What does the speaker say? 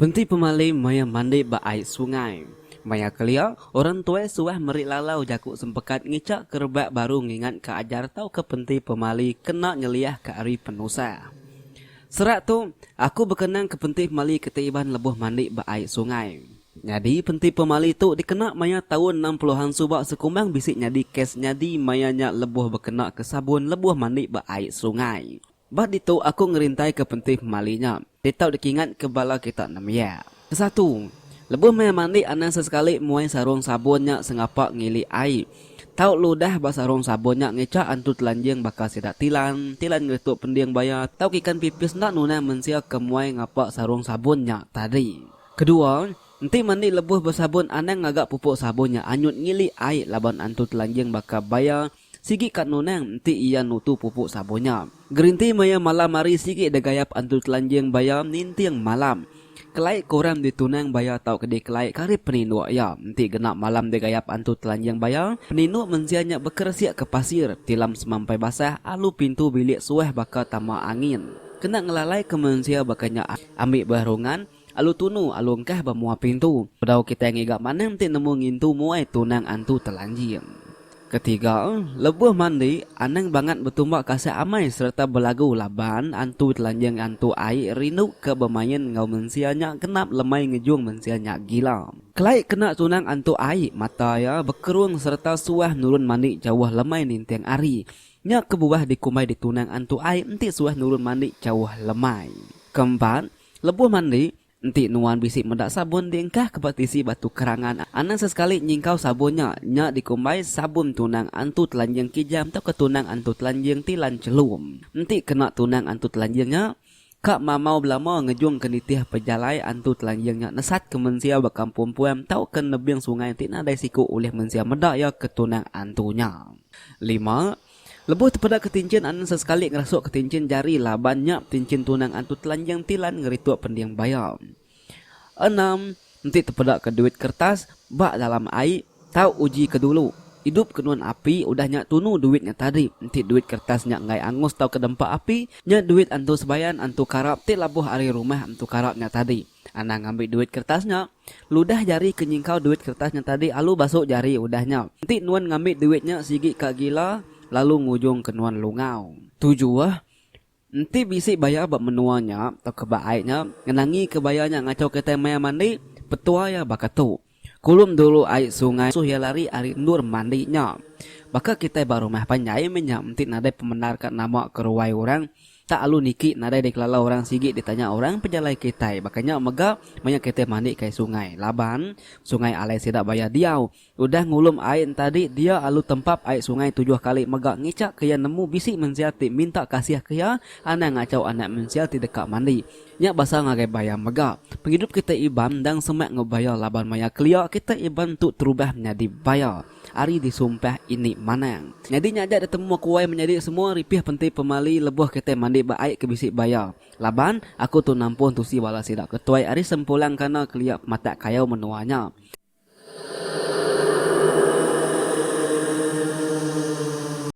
Penti pemalim maya mandi ba ai sungai. Maya kelia, orang tuai suah meri lalau jaku sempekat ngichak ke rebak baru ngingatka ajar tauka penti pemali kena nyeliahka ari penusah. Serak tu, aku bekenang ke penti pemali ke ti iban lebuh mandi ba ai sungai. Nyadi penti pemali tu dikena maya taun enam puluhan suba sekumbang bisi nyadi kes nyadi maya nya lebuh bekena ke sabun lebuh mandi ba ai serungai. Ba ditu aku ngerintai ke penti pemali nya ditau dikingat ke bala kita nembiak. Kesatu, lebuh maya mandi anang sesekali muai sarung sabun nya sengapa ngili ai tau ludah ba sarung sabun nya ngicha antu telanjing baka sida tilan, tilan ngeritu pending baya tau ke ikan pipis enda nunang mensia ke muai ngapa sarung sabun nya tadi. Kedua, enti mandi lebuh besabun anang ngaga pupuk sabun nya anyut ngili ai laban antu telanjing baka baya sigi ka nunang enti iya nutu pupuk sabun nya. Gerinti maya malam hari sigi degayap antu telanjing baya ninting malam. Kelai kurang ditunang baya tauka dikelai ka ari peninduk iya. Enti genap malam degayap antu telanjing baya, peninduk mensia nya bekeresik ke pasir, tilam semampai basah alu pintu bilik suah baka tama angin. Kena ngelalai ke mensia baka nya ambi berungan, Alu tunu, alu engkah ba mua pintu. Bedau kitai ngiga manang ti nemu ngintu muai tunang antu telanjing. Ketiga, lebuh mandi, anang bangat betumba kasih amai sereta belagu laban antu telanjing antu ai rindu ke bemain enggau mensia nya genap lemai ngejung mensia nya gila. Kelai kena tunang antu ai, mata iya bekerung sereta suah nurun mandi jauh lemai ninting ari. Nya kebuah dikumbai di tunang antu ai enti suah nurun mandi jauh lemai. Keempat, Lebuh mandi, enti nuan bisi meda sabun diengkahka ba tisi batu kerangan, anang sesekali nyingkau sabun nya. Nya dikumbai sabun tunang antu telanjing kijam tauka tunang antu telanjing ti lan chelum. Enti kena tunang antu telanjing nya, ka mamau belama ngejungka nitih pejalai antu telanjing nya nesatka mensia ba kampung puang tauka nebing sungai ti nadai siku ulih mensia meda iya ke tunang antu nya. Lima. Lebuh tepeda ketinchin anang sesekali ngerasuk ketinchin jari laban nya betinchin tunang antu telanjing tilan ngerituk pending baya. Enam, enti tepeda ke duit kertas ba dalam ai tau uji ke dulu idup ke nuan api udah nya tunu duit nya tadi enti duit kertas nya enggai angus tauka dempa api nya duit antu sebayan antu karap ti labuh ari rumah antu karap nya tadi. Anang ngambi duit kertas nya. Ludah jari ke nyingkau duit kertas nya tadi alu basu jari udah nya. Enti nuan ngambi duit nya sigi ka gila lalu ngujung ke nuan lungau. Tujuh, Enti bisi baya ba menua nya tauka ba ai nya ngenangi ke baya nya ngachau kitai maya mandi, petua iya baka tu. Kulum dulu ai sungai suh iya lari ari endur mandi nya. Baka kitai ba rumah panjai meh nya enti nadai pemendar ka nama ke ruai orang tak alu niki nadai dikelala orang sigi ditanya orang pejalai kitai baka nya mega maya kitai mandi kai sungai laban sungai alai sida baya diau udah ngulum ai entadi dia alu tempap ai sungai tujuh kali mega ngichak ke iya nemu bisi mensia ti minta kasih ke iya anang ngachau anak mensia ti deka mandi Nya basa ngagai Bayam mega. Pengidup kitai Iban endang semak enggau Bayar laban maya kelia kitai Iban tu terubah menyadi Bayar ari disumpah ini manang. Nyadi nya aja ditemu aku wai menyadi semua ripih penti pemali leboh kitai mandi ba ai ke bisi Bayar. Laban aku tu nampuh entusi bala sida ke tuai ari Sempulang kana kelia pematak kayau menua nya.